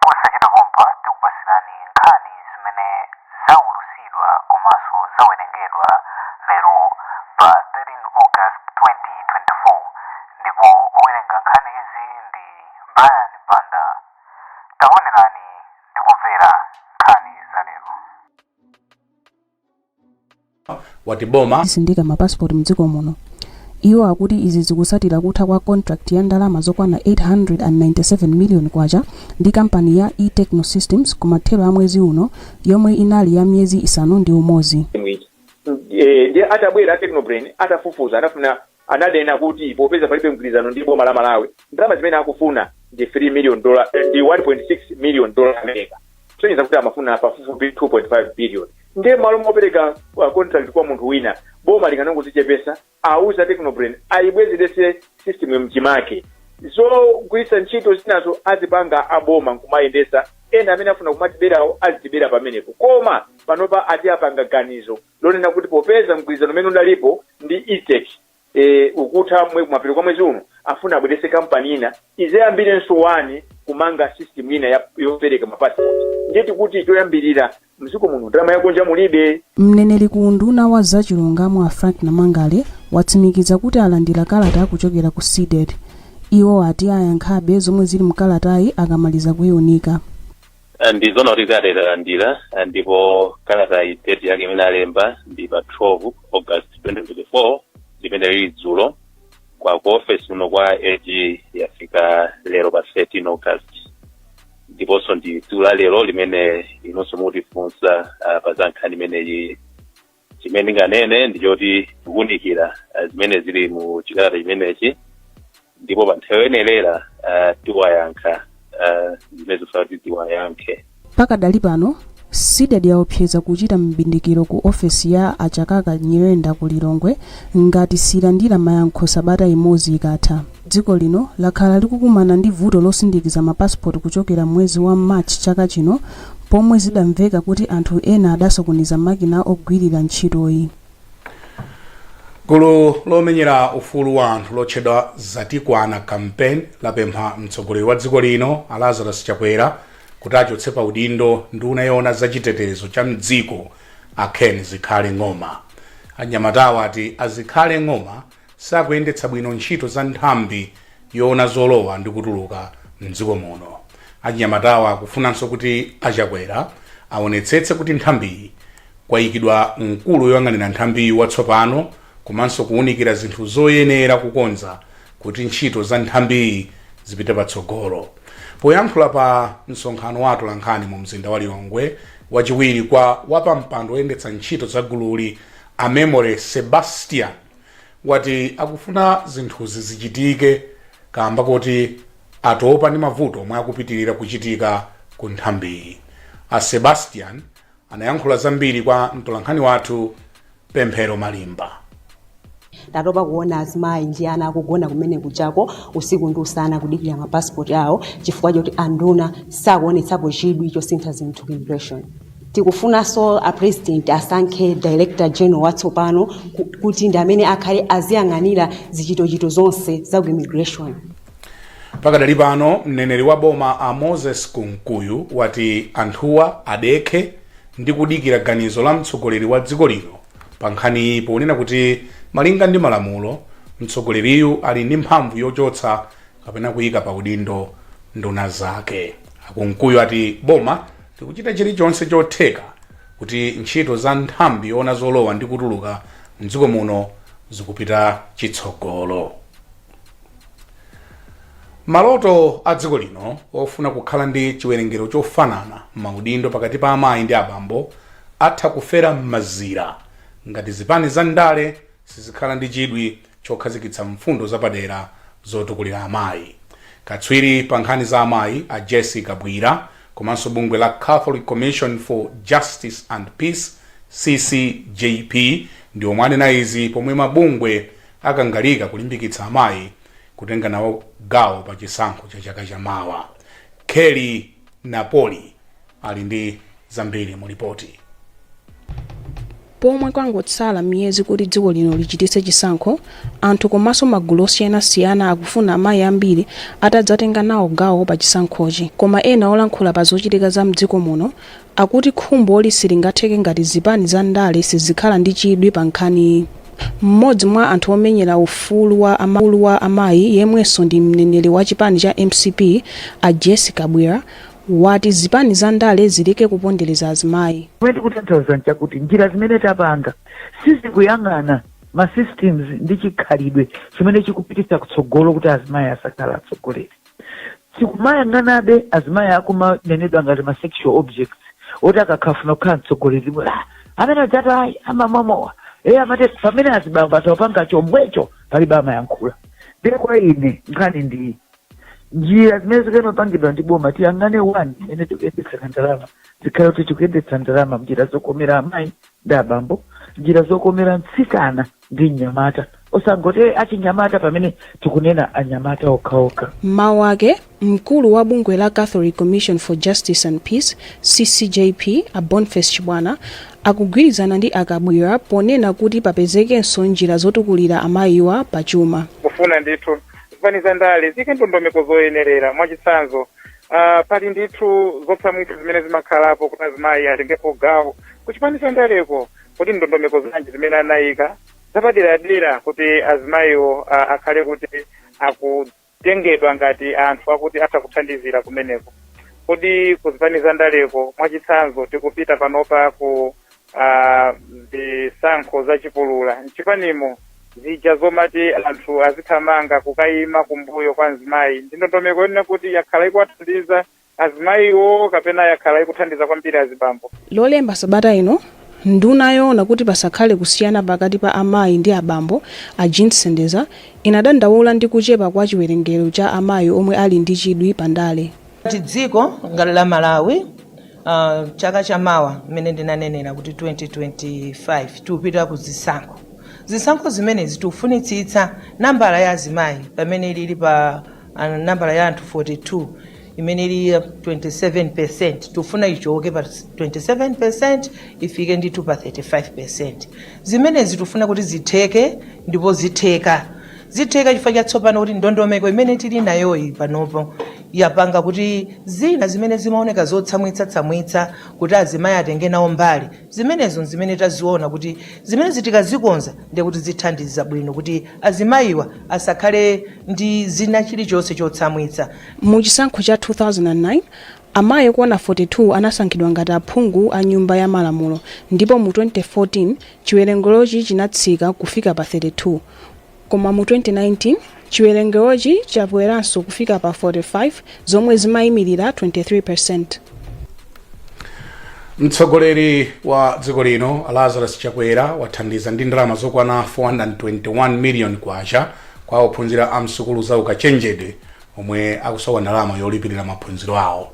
Posachedwa pompa tikupatsirani nkhani zimene zaulutsidwa komanso zawerengedwa lero pa 13 August 2024 ndipo owerenga nkhani izi ndi Brian Banda. Taonerani ndi kumvera nkhani za lero. wati boma lizisindika ma passport mdziko muno iwo akuti izi zikusatira kutha kwa contract ya ndalama zokwana 897 million kwacha ndi kampani ya etechno systems kumathero a mwezi uno yomwe inali ya miyezi isanu ndi umodzi Eh, ndiye atabwera technobrain atafufuza anafuna ananena kuti popeza palibe mgwirizano ndi boma la Malawi, ndalama zimene akufuna ndi 3 million dola, ndi 1.6 million dola America. Kusonyeza kuti amafuna pafupifupi 2.5 billion. Ndiye mmalo mopereka uh, contract kwa munthu wina, boma likanangozichepesa, auza Technobrain ayibwezerese system mchimake. Zogwiritsa ntchito zinazo azipanga aboma nkumayendesa ena amene afuna kumatiberawo azitibera pamenepo koma panopa ati apanga ganizo lonena kuti popeza mgwirizano umene udalipo ndi E-tech e, ukutha mwe, kumapeto kwa mwezi uno, afuna abweretse kampani ina idzayambirenso kumanga system ina ya, yopereka ma passport. Ndiye tikuti choyambirira mdziko muno ndalama yakunja mulibe. Mneneri ku unduna wa za chilungamo a Frank Namangale watsimikiza kuti alandira kalata kuchokera ku Cdedi. Iwo ati ayankhabe zomwe zili mkalatayi akamaliza kuiunika. Ah, ndi zona kuti kalata talandira ah, ndipo kalata iyi date yake imene alemba ndi pa 12 august 2024 limene lili dzulo koma ku office kuno kwa ag yafika lero pa 13 august ndiponso ndi tsiku la lero limene inunso mukutifunsa ah, pa za nkhani imeneyi chimene ndinganene ndi choti tikuwunikira eh, zimene zili mu chikalata chimenechi ndipo pa nthawi yoyenera eh, tiwayankha eh, zimene akufuna kuti tiwayankhe pakadali pano cdedi yaopseza kuchita mbindikiro ku ofesi ya a chakaka nyirenda ku lilongwe ngati silandira mayankho sabata imodzi ikatha Dziko lino lakhala likukumana ndi vuto losindikiza ma passport kuchokera m'mwezi wa March chaka chino pomwe zidamveka kuti anthu ena adasokoneza makina ogwirira ntchitoyi. Gulu lomenyera ufulu wa anthu lotchedwa Zatikwana Campaign lapempha mtsogoleri wa dziko lino a Lazarus Chakwera kuti achotse pa udindo nduna yoona za chitetezo cha m'dziko a Ken Zikhale Ng'oma. Anyamatawa ati a Zikhale Ng'oma sakuyendetsa bwino ntchito za nthambi yoona zolowa ndi kutuluka m'dziko muno. Achinyamatawa akufunanso kuti a Chakwera awonetsetse kuti nthambiyi kwayikidwa mkulu woyang'anira nthambiyi watsopano komanso kuwunikira zinthu zoyenera kukonza kuti ntchito za nthambiyi zipite patsogolo. Poyankhula pa msonkhano wa atolankhani mu mzinda wa Lilongwe, wachiwiri kwa wapampando woyendetsa ntchito za gululi a Memory Sebastian, wati akufuna zinthuzi zichitike kaamba koti atopa ndi mavuto omwe akupitilira kuchitika ku nthambiyi. A Sebastian anayankhula zambiri kwa mtolankhani wathu Pemphero Malimba. tatopa kuona azimayi ndi ana akugona kumene kuchako usiku ndi usana kudikira mapasipoti awo chifukwa choti anduna sakuonetsapo chidwi chosintha zinthu ku immigration Tikufunanso a President asankhe Director General watsopano kuti ndi amene akhale aziyang'anira zichitochito zonse za ku Immigration. Pakadali pano, mneneri wa boma a Moses Kunkuyu wati anthuwa adekhe ndi kudikira ganizo la mtsogoleri wa dziko lino pa nkhaniyi ponena kuti malinga ndi malamulo, mtsogoleriyu ali ndi mphamvu yochotsa kapena kuika pa udindo nduna zake. A Kunkuyu ati boma likuchita chilichonse chotheka kuti ntchito za nthambi yoona zolowa ndi kutuluka m'dziko muno zikupita chitsogolo. Maloto a dziko lino ofuna kukhala ndi chiwerengero chofanana m'maudindo pakati pa amayi ndi abambo atha kufera m'mazira ngati zipani za ndale sizikhala ndi chidwi chokhazikitsa mfundo zapadera zotukulira amayi. Katswiri pa nkhani za amayi, a Jessie Kabwila, komanso bungwe la Catholic Commission for Justice and Peace, ccjp, ndi omwe anena izi pomwe mabungwe akangalika kulimbikitsa amayi kutenga nawo gawo pa chisankho cha chaka cha mawa. Kelly Napoli. ali ndi zambiri mu lipoti pomwe kwangotsala miyezi kuti dziko lino lichititse chisankho anthu komanso magulu osiyanasiyana akufuna amayi ambiri atadzatenga nawo gawo pa chisankhochi koma ena olankhula pa zochitika za mdziko muno akuti khumboli silingatheke ngati zipani za ndale sizikhala ndi chidwi pa nkhaniyi mmodzi mwa anthu omenyera ufulu wa ama- ufulu wa amayi yemwenso ndi mneneri wa chipani cha mcp a jessie kabwila wati zipani za ndale zileke kupondereza azimayi. Chomwe ndikutanthauza nchakuti njira zimene tapanga sizikuyang'ana ma systems ndi chikhalidwe chimene chikupititsa kutsogolo kuti azimayi asakhale atsogoleri. Tikumayang'anabe azimayi akumanenedwa ngati ma sexual objects oti akafuna kukhala mtsogoleri bwe "Ah, amene adzati uyu amamwa mowa e amati pamene azibambo atapanga chomwecho palibe amayankhula. Ndiye kwa ine nkhani ndi njira zimene zikanapangidwa ndi boma tiyang'ane mmene tikuyendetsera ndalama zikhale kuti tikuyendetsa ndalama mnjira zokomera amayi ndi abambo njira zokomera mtsikana ndi mnyamata osangoti achinyamata pamene tikunena anyamata okhaokha m'mawu ake mkulu wa bungwe la catholic commission for justice and peace ccjp a boniface chibwana akugwirizana ndi a Kabwila ponena kuti papezekenso njira zotukulira amayiwa pa chuma kufuna ndithu zipani za ndale ziike ndondomeko zoyenerera mwachitsanzo uh, pali ndithu zotsamwitsa zimene zimakhalapo kuti azimayi atengepo gawo ku chipani cha ndaleko kodi ndondomeko zanji zimene anayika zapaderadera kuti azimayiwo uh, akhale kuti akutengedwa ngati anthu akuti atha kuthandizira kumeneko kodi ku zipani za ndaleko mwachitsanzo tikupita panopa ku ah, zisankho za chipulula mchipanimo zija zomati anthu azithamanga kukayima kumbuyo kwa mzimayi ndi ndondomeko yonena kuti yakhala ikuwathandiza azimayiwo kapena yakhala ikuthandiza kwambiri azibambo lolemba sabata ino nduna yoona kuti pasakhale kusiyana pakati pa amayi ndi abambo a jean sendeza inadandaula ndi kuchepa kwa chiwerengero cha amayi omwe ali ndi chidwi pa ndale Ngati dziko ngati la Malawi Uh, chaka cha mawa mmene ndinanenera kuti 2025 tikupita ku zisankho zisankho zimenezi tufunitsitsa nambala ya azimayi pamene ilili pa uh, nambala ya anthu 42 imene ili ya 27 percent tufuna ichoke pa 27 percent ifike ndithu pa 35 percent zimenezi tufuna kuti zitheke ndipo zitheka Zitheka chifukwa cha tsopano kuti ndondomeko imene tili nayoyi panopo yapanga kuti zina zimene zimaoneka zotsamwitsa tsamwitsa kuti azimayi atenge nawo mbali zimenezo nzimene taziona kuti zimenezi tikazikonza ndiye kuti zithandiza bwino kuti azimayiwa asakhale ndi zina chilichonse chotsamwitsa. Mu chisankho cha 2009, amayi okwana 42 anasankhidwa ngati aphungu a nyumba ya malamulo ndipo mu 2014 chiwerengerochi chinatsika kufika pa 32. Koma mu 2019, chiwerengerochi chakweranso kufika pa 45, zomwe zimaimilira 23 percenti. Mtsogoleri wa dziko lino a Lazarus Chakwera wathandiza ndi ndalama zokwana 421 million kwacha kwa ophunzira a msukulu za ukachenjede omwe akusowa ndalama yolipilira maphunziro awo.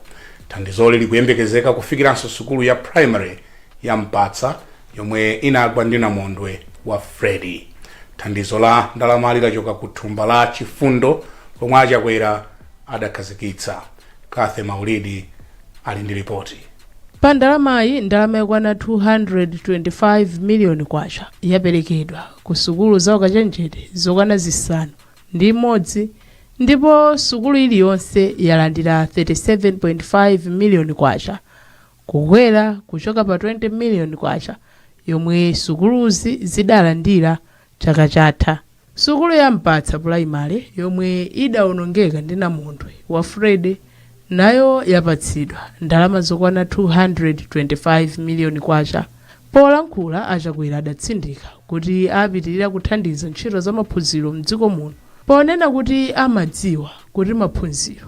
Thandizoli likuyembekezeka kufikiranso sukulu ya primary ya Mpatsa yomwe inagwa ndi namondwe wa Freddy. Thandizo la ndalamali lachoka ku thumba la Chifundo lomwe a Chakwera adakhazikitsa. Cathy Maulidi ali ndi lipoti. Pa ndalamayi, ndalama yokwana 225 miliyoni kwacha yaperekedwa ku sukulu za ukachenjede zokwana zisanu ndi imodzi ndipo sukulu iliyonse yalandira 37.5 miliyoni kwacha. kukwera kuchoka pa 20 miliyoni kwacha yomwe sukuluzi zidalandira chaka chatha. Sukulu ya Mpatsa pulaimale yomwe idaonongeka ndi namondwe wa Freddy nayo yapatsidwa ndalama zokwana 225 miliyoni kwacha. Polankhula a Chakwera adatsindika kuti apitilira kuthandiza ntchito za maphunziro m'dziko muno ponena kuti amadziwa kuti maphunziro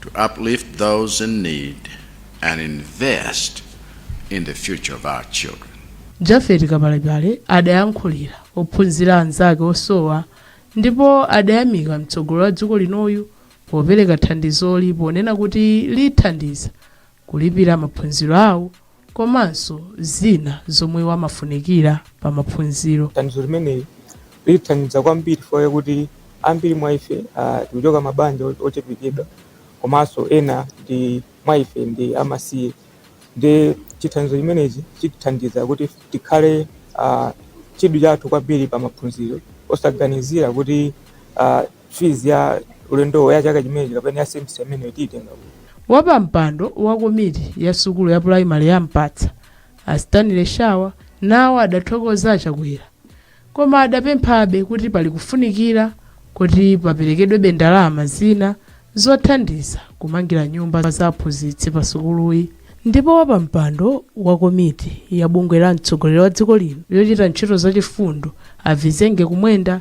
to uplift those in need and invest in the future of our children. Jafet Kapalepale adayankhulira ophunzira anzake osowa ndipo adayamika mtsogolo wa dziko linoyu popereka thandizoli ponena kuti lithandiza kulipira maphunziro awo komanso zina zomwe amafunikira pa maphunziro. Thandizo limeneli litithandiza kwambiri chifukwa chakuti ambiri mwa ife ah, tikuchoka mabanja o- ochepekedwa komanso ena ndi mwa ife ndi amasiye ndi chithandizo chimenechi chitithandiza kuti tikhale ah, chidwi chathu kwambiri pa maphunziro osaganizira kuti ah, fees ya ulendowo ya chaka chimenechi kapena ya semester imeneyo tiitenga kuti Wapampando wa komiti ya sukulu ya pulayimale ya Mpatsa, a Stanley Shawa, nawo adathokoza a Chakwera, koma adapemphabe kuti pali kufunikira kuti paperekedwebe ndalama zina zothandiza kumangira nyumba za aphunzitsi pa sukuluyi. Ndipo wapampando wa komiti ya bungwe la mtsogoleri wa dziko lino yochita ntchito zachifundo a Vizenge Kumwenda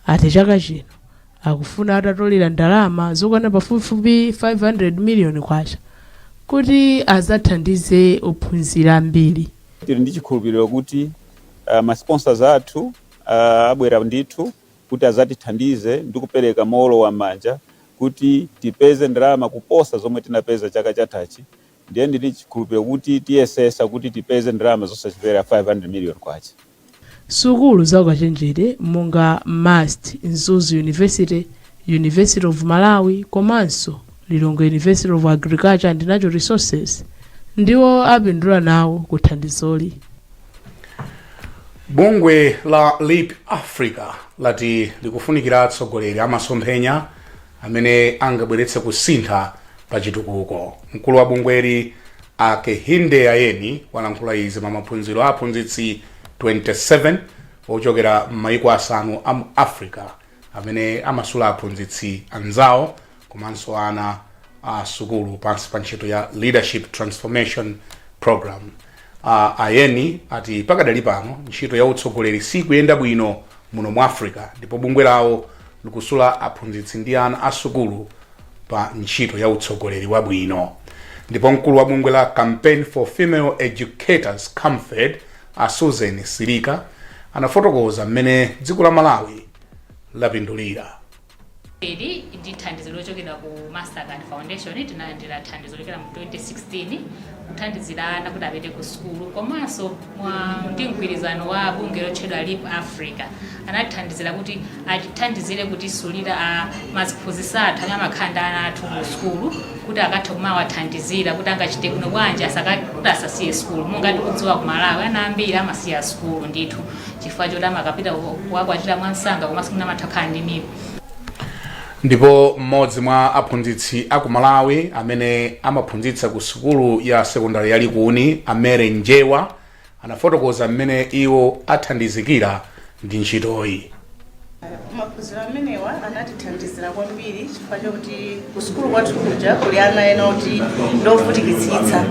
ati chaka chino akufuna atatolera ndalama zokwana pafupifupi 500 miliyoni kwacha kuti azathandize ophunzira ambiri tili ndi chikhulupiriro kuti uh, ma sponsors athu uh, abwera ndithu kuti azatithandize ndi kupereka mowolowa manja kuti tipeze ndalama kuposa zomwe tinapeza chaka chathachi Ndiye ndili chikhulupiriro kuti tiyesetsa kuti tipeze ndalama zosachepera K500 million. Sukulu za ukachenjede monga MUST, Mzuzu University, University of Malawi komanso Lilongwe University of Agriculture and Natural Resources ndiwo apindula nawo ku thandizoli. Bungwe la Leap Africa lati likufunikira atsogoleri amasomphenya, amene angabweretse kusintha pa chitukuko. Mkulu wa bungweli a Kehinde Ayeni walankhula izi pa maphunziro a aphunzitsi 27 ochokera m'mayiko asanu a mu Africa amene amasula aphunzitsi anzawo komanso ana a sukulu pansi pa ntchito ya Leadership Transformation Programme. A Ayeni ati pakadali pano ntchito ya utsogoleri siikuyenda bwino muno mu Africa ndipo bungwe lawo likusula aphunzitsi ndi ana a sukulu pa ntchito ya utsogoleri wabwino. Ndipo mkulu wa bungwe la Campaign for Female Educators, Camfed, a Susan Silika anafotokoza mmene dziko la Malawi lapindulira. Ndi thandizo lochokera ku Mastercard Foundation, tinalandira thandizo lochokera mu 2016 kuthandizira ana kuti apite ku sukulu komanso mwa ndi mgwirizano wa bungwe lotchedwa Leap Africa anathandizira kuti atithandizire kutisulira a maziphunzitsi athu amene amakhala ndi ana athu ku sukulu kuti akathe kumawathandizira kuti angachite bwino bwanji asaka- kuti asasiye sukulu monga tikudziwa ku Malawi ana ambiri amasiya sukulu ndithu chifukwa choti amakapita ku- kukakwatira mwansanga komanso mwina amatha kukhala ndi mimba ndipo mmodzi mwa aphunzitsi a ku malawi amene amaphunzitsa ku sukulu ya sekondari ya likuni a mere njewa anafotokoza mmene iwo athandizikira ndi ntchitoyi Maphunziro amenewa anatithandizira kwambiri chifukwa chakuti kusukulu kwathu kuja kuli ana ena oti ndiovutikitsitsa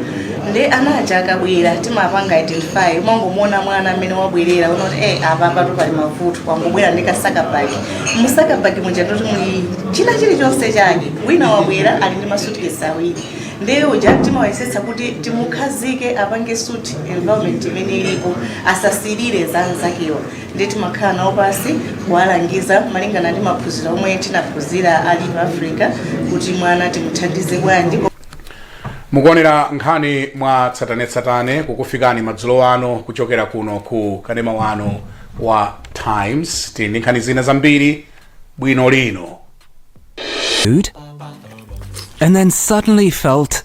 ndi ana aja akabwera timapanga identify umangomuona mwana amene wabwerera unkati eh apa patu pali mavuto wangobwera ndi kasakabagi mu sakabagi muja ndoti muli china chilichonse chake wina wabwera ali ndi masutikesi awiri ndiye uja timayesetsa kuti timukhazike apange suit environment imene ilipo asasirire za nzakewa ndiye timakhala nawo pansi kuwalangiza malingana ndi maphunziro omwe tinaphunzira a leap africa kuti mwana timuthandize bwanji mukuonera nkhani mwa tsatanetsatane kukufikani madzulo ano kuchokera kuno ku kanema wanu wa times tili ndi nkhani zina zambiri bwino lino food and then suddenly felt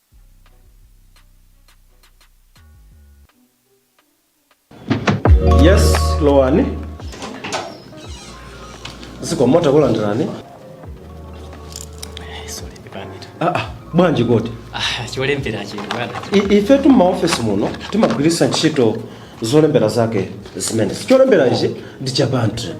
yes lowani zikomo takulandirani Ah, ah, bwanji kodi cholembera chino bwana I- ifetu m'maofesi muno timagwiritsa ntchito zolembera zake zimenezi cholembera ichi ndi cha bantley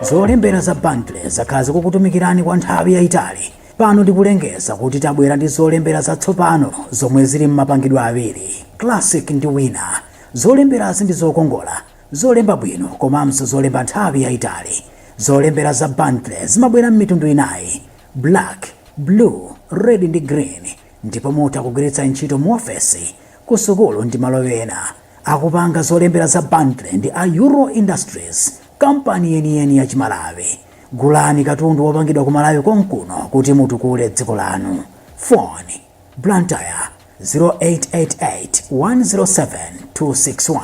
zolembera za bantley zakhala zikukutumikirani kwa nthawi yayitali pano ndikulengeza kuti tabwera ndi zolembera zatsopano zomwe zili m'mapangidwe awiri classic ndi winner zolemberazi ndi zokongola zolemba bwino komanso zolemba nthawi yayitali zolembera za bantley zimabwera m'mitundu inayi black blue red ndi green ndipo mutha kugwiritsa ntchito muofesi, kusukulu ndi malo ena. Akupanga zolembera za Bantley ndi a Euro Industries, kampani yeniyeni ya Chimalawi. Gulani katundu wopangidwa ku Malawi konkuno kuti mutukule dziko lanu. Phone, Blantyre 0888 107 261,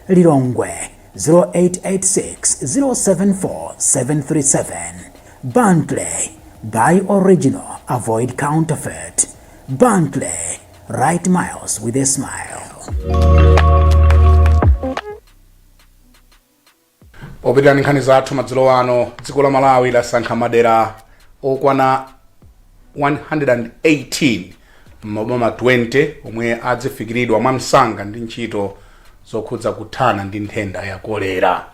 Lilongwe 0886074737 Bantley Buy original, avoid counterfeit. Bantley Write miles with a smile. popitira ndi nkhani zathu madzulo ano dziko la malawi lasankha madera okwana 118 m'maboma 20 omwe adzifikiridwa mwamsanga ndi ntchito zokhudza kuthana ndi nthenda ya kolera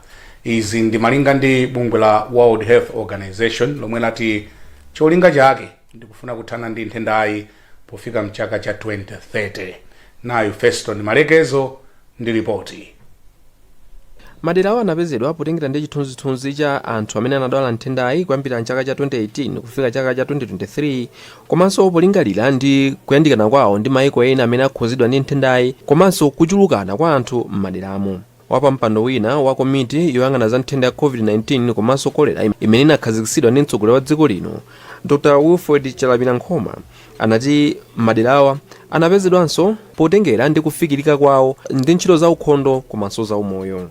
izi ndi malinga ndi bungwe la world health organization lomwe lati cholinga chake ndikufuna kuthana ndi nthendayi pofika mchaka cha 2030 nayu feston malekezo ndi ripoti Maderawa anapezedwa potengera ndi chithunzithunzi cha anthu amene anadwala nthendayi kuyambira m'chaka cha 2018 kufika chaka cha 2023 komanso polingalira ndi kuyandikana kwawo ndi maiko ena amene akhudzidwa ndi nthendayi komanso kuchulukana kwa anthu m'maderamo. Wapampando wina wa komiti yoyang'ana za nthenda ya COVID-19 komanso kolera imene inakhazikitsidwa ndi mtsogoleri wa dziko lino, Dr Wilfred Chalamira Nkhoma, anati maderawa anapezedwanso potengera ndi kufikirika kwawo ndi ntchito za ukhondo komanso za umoyo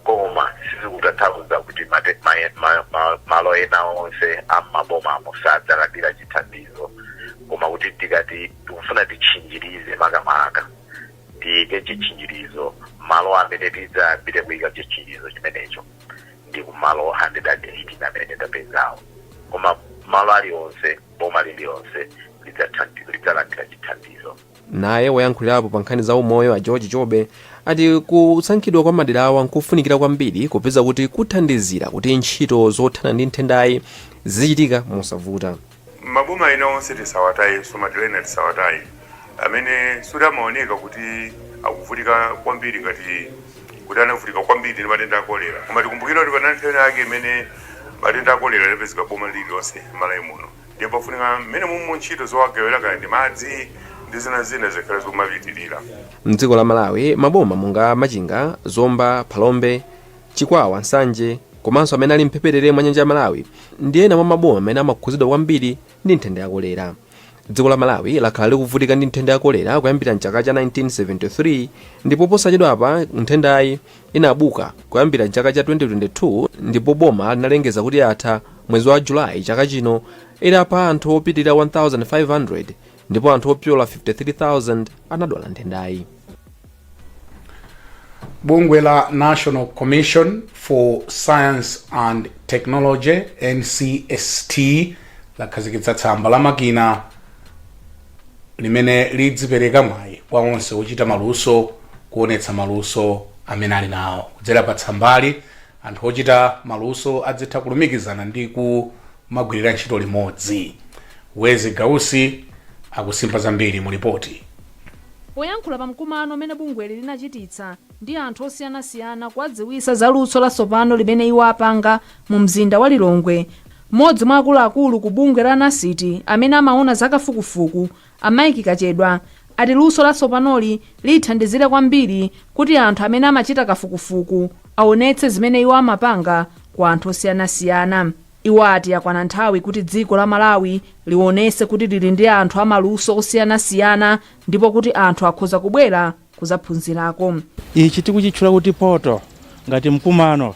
koma sizikutanthauza kuti mate- ma- ma- ma- malo ena onse am'mabomamo sadzalandira chithandizo koma kuti tikati tikufuna titchinjirize makamaka tiyike chitchinjirizo malo amene tidzayambire kuyika chitchinjirizo chimenecho ndi kumalo 118 amene tapezawo koma malo alionse Boma lililonse lidzatha lidzalandira chithandizo. Naye woyankhulirapo pa nkhani za umoyo a George Jobe ati kusankhidwa kwa maderawa nkofunikira kwambiri popeza kuti kuthandizira kuti ntchito zothana ndi nthendayi zizichitika mosavuta. Maboma ena onse tisawatayenso madera ena tisawataye amene sikuti amaoneka kuti akuvutika kwambiri ngati kuti anavutika kwambiri ndi matenda a kolera koma tikumbukira kuti panali nthawi yake imene matenda a kolera anapezeka boma lililonse m'malawi muno ndiye pafunika mmene mumu ntchito zowagawira kaya ndi madzi ndi zina zina zikhale zomapitirira mdziko la malawi maboma monga machinga zomba phalombe chikwawa nsanje komanso amene ali mphepete mwa nyanja ya malawi ndi ena mwa maboma amene amakhudzidwa kwambiri ndi nthenda ya kolera. Dziko la Malawi lakhala likuvutika ndi nthenda ya kolera kuyambira m'chaka cha 1973 ndipo posachedwapa nthendayi inabuka kuyambira m'chaka cha 2022 ndipo boma linalengeza kuti yatha mwezi wa Julayi chaka chino itapha anthu opitirira 1,500 ndipo anthu opyola 53,000 anadwala nthendayi. bungwe la national commission for science and technology ncst lakhazikitsa tsamba la makina limene lidzipereka mwayi kwa onse ochita maluso kuonetsa maluso amene ali nawo kudzera pa tsambali anthu ochita maluso adzitha kulumikizana ndi kumagwirira ntchito limodzi wezzie gausi akusimba zambiri mu lipoti Poyankhula pa mkumano umene bungweli linachititsa ndi anthu osiyanasiyana kuwadziwitsa za luso latsopano limene iwo apanga mu mzinda wa Lilongwe, m'modzi mwa akuluakulu ku bungwe la NCST amene amaona za kafukufuku, a Mike Kachedwa, ati luso latsopanoli lithandizire kwambiri kuti anthu amene amachita kafukufuku aonetse zimene iwo amapanga ku anthu osiyanasiyana. Iwo ati yakwana nthawi kuti dziko la Malawi liwonese kuti lili ndi anthu a maluso osiyanasiyana ndipo kuti anthu akhoza kubwera kuzaphunzirako. Ichi tikuchitchula kuti Portal ngati mkumano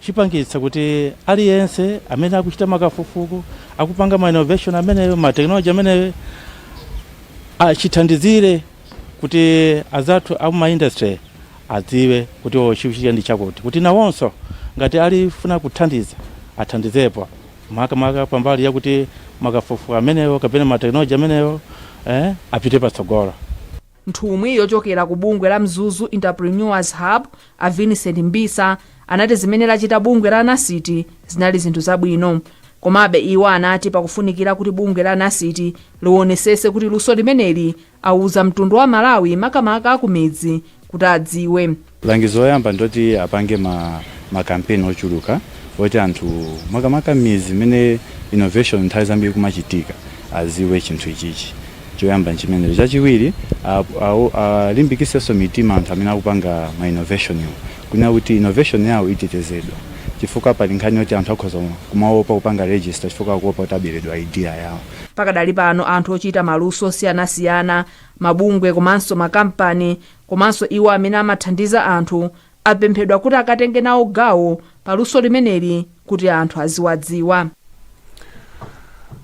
chipangitsa kuti aliyense amene akuchita makafukufuku, akupanga ma innovation ameneyo, ma technology ameneyo chithandizire kuti anzathu a m'ma industry Adziwe kuti o chikuchitika ndi chakuti kuti nawonso ngati akufuna kuthandiza athandizepo makamaka pambali yakuti makafukufuku amenewo kapena ma technology amenewo eh apite patsogolo. Nthumwi yochokera ku bungwe la Mzuzu Entrepreneurs Hub, a Vincent Mbisa, anati zimene lachita bungwe la NCST zinali zinthu zabwino. Komabe iwo anati pakufunikira kuti bungwe la NCST liwonetsetse kuti luso limeneli Awuza mtundu wa Malawi makamaka akumidzi kuti adziwe. Langizo loyamba ndiloti apange ma campaign ochuluka oti anthu makamaka mmidzi mmene innovation nthawi zambiri ikumachitika adziwe chinthu ichichi. Choyamba nchimenecho. Chachiwiri alimbikitsenso mitima anthu amene akupanga ma innovation-wo kunena kuti innovation yawo itetezedwa chifukwa pali nkhani yoti anthu akhoza kumaopa kupanga register chifukwa akuopa kuti aberedwa idea yawo. Pakadali pano anthu ochita maluso osiyanasiyana, mabungwe komanso makampani komanso iwo amene amathandiza anthu apemphedwa kuti akatenge nawo gawo pa luso limeneli kuti anthu aziwadziwa.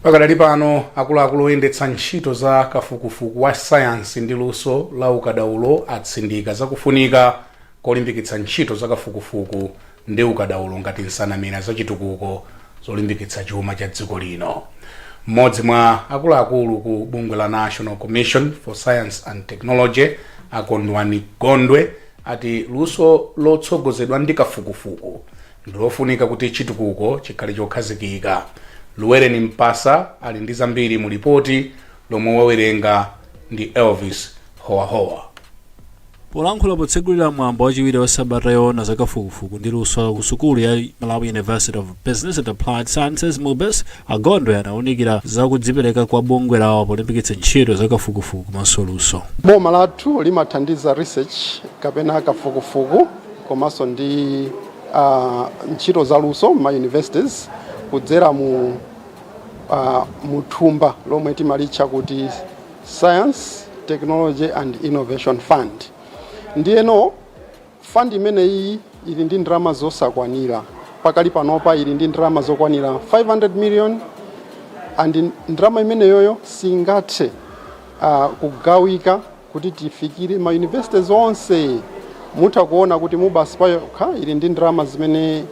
Pakadali pano akuluakulu oyendetsa ntchito za kafukufuku wa sayansi ndi luso la ukadaulo atsindika zakufunika kolimbikitsa ntchito zakafukufuku ndi ukadaulo ngati nsanamira za chitukuko zolimbikitsa chuma cha dziko lino. Mmodzi mwa akuluakulu ku bungwe la National Commission for Science and Technology a Kondwani Gondwe ati luso lotsogozedwa ndi kafukufuku ndilofunika kuti chitukuko chikhale chokhazikika. Luwereni Mpasa ali ndi zambiri mu lipoti lomwe awerenga ndi Elvis Howahowa. Polankhula potsegulira mwambo wachiwiri wa sabata yoona za kafukufuku ndi luso ku sukulu ya Malawi University of Business and Applied Sciences, MUBAS, a Gondwe anaunikira za kudzipereka kwa bungwe lawo polimbikitsa ntchito za kafukufuku komanso luso. Boma lathu limathandiza research kapena kafukufuku komanso ndi ah, ntchito za luso m'ma universities kudzera mu uh, muthumba lomwe timalitcha kuti science technology and innovation fund ndiyeno fund imeneyi ili ndi ndalama zosakwanira pakali panopa ili ndi ndalama zokwanira 500 million and ndalama imeneyoyo singathe uh, kugawika Kuti tifikire ma universities onse mutha kuona kuti Mubas payokha ili ndi ndalama zimene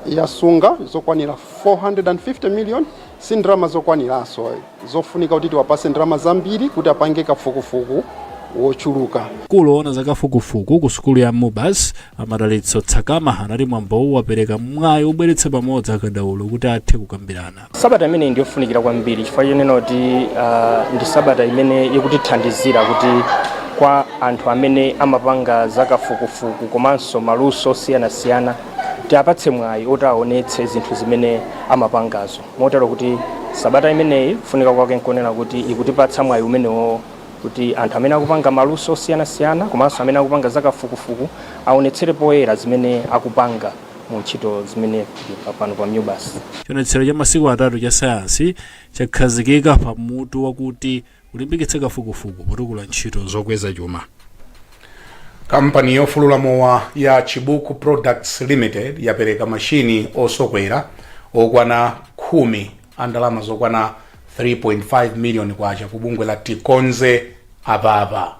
yasunga zokwanira 450 million si ndalama zokwaniranso zofunika kuti tiwapase ndalama zambiri kuti apange kafukufuku wochuluka. Mkulu oona za kafukufuku ku sukulu ya Mubas, a Madalitso Tsakama anati mwambowu wapereka mwayi wobweretsa pamodzi akadaulo kuti athe kukambirana. Sabata imeneyi ndi yofunikira kwambiri chifukwa chonena kuti uh, ndi sabata imene ikutithandizira kuti kwa anthu amene amapanga zakafukufuku komanso maluso osiyanasiyana tiapatse mwayi oti aonetse zinthu zimene amapangazo motero kuti sabata imeneyi kufunika kwake nkonena kuti ikutipatsa mwayi umenewo kuti anthu amene akupanga maluso osiyanasiyana komanso amene akupanga zakafukufuku aonetsere poyera zimene akupanga mu ntchito zimene pa- pano pa Mubas. Chionetsero cha masiku atatu cha sayansi chakhazikika pa mutu wakuti kulimbikitsa kafukufuku potukula ntchito zokweza chuma. kampani yofulula mowa ya chibuku products limited yapereka mashini osokera okwana khumi a ndalama zokwana 3.5 miliyoni kwacha ku bungwe la tikonze apapa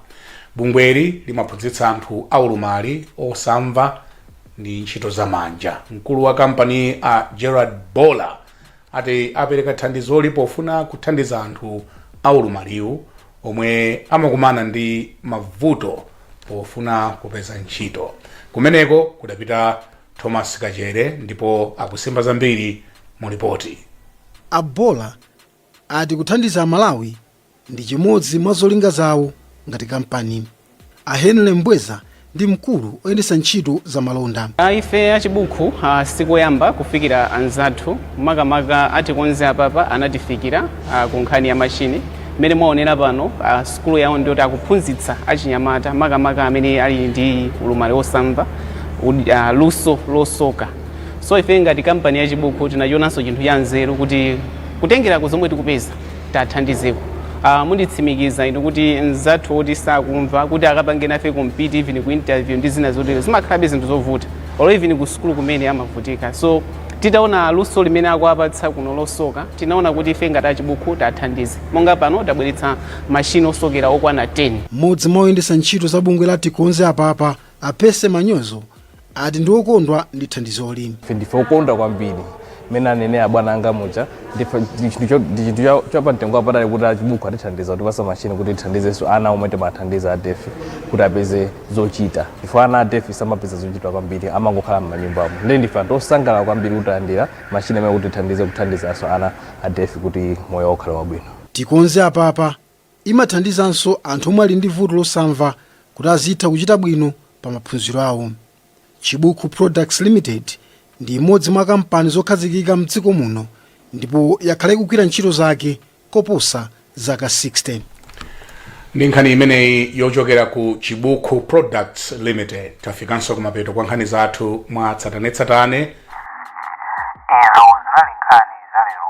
bungweli limaphunzitsa anthu aulumali osamva ndi ntchito za manja. Mkulu wa kampaniyi a Gerald Bowler ati apereka thandizoli pofuna kuthandiza anthu a ulumaliwu omwe amakumana ndi mavuto pofuna kupeza ntchito. Kumeneko kudapita Thomas Kachere ndipo akusimba zambiri mu lipoti. A Bowler ati kuthandiza a Malawi ndi chimodzi mwa zolinga zawo ngati kampani. A Henry Mbweza ndi mkulu oyendetsa ntchito za malonda. Ife a Chibuku a sikoyamba kufikira anzathu makamaka a Tikonze apapa anatifikira a ku nkhani ya mashini mmene mwaonera pano a sukulu yawo ndiyoti akuphunzitsa achinyamata makamaka amene ali ndi ulumali osamva uh a luso losoka. so ife ngati kampani ya chibuku tinachionanso chinthu cha nzeru kuti kutengera ku zomwe tikupeza tathandizeko uh, munditsimikiza inu kuti mzathu oti sakumva kuti akapange nafe compete even ku interview ndi zina zotero zimakhalabe zinthu zovuta or even ku sukulu kumene amavutika so titaona luso limene akuwapatsa kuno losoka tinaona kuti ife ngati achibuku tathandize monga pano tabweretsa mashini osokera okwana 10 Mmodzi mwa oyendetsa ntchito za bungwe la Tikonze Apapa, a Percy Manyozo, ati ndi okondwa ndi thandizoli. Ife ndife okondwa kwambiri mmene anenera abwana anga muja ndife ndi chinthu cho- ndi chinthu cha- chapamtengo wapatali kuti achibuku atithandiza kutipasa mashini kuti tithandizenso ana omwe timathandiza adefi kuti apeze zochita chifukwa ana adefi samapeza zochita kwambiri amangokhala m'manyumbamo nde ndife anthu osangalala kwambiri kuti talandira mashini amene kuti tithandize kuthandizanso ana adefi kuti moyo wawo ukhale wabwino. tikonze apapa Imathandizanso anthu omwe ali ndi vuto losamva kuti azitha kuchita bwino pa maphunziro awo. Chibuku Products Limited ndi imodzi mwa kampani zokhazikika m'dziko muno ndipo yakhala ikugwira ntchito zake koposa zaka 60. Ndi nkhani imeneyi yochokera ku Chibuku Products Limited, tafikanso kumapeto kwa nkhani zathu mwatsatanetsatane. Izo zinali nkhani za lero.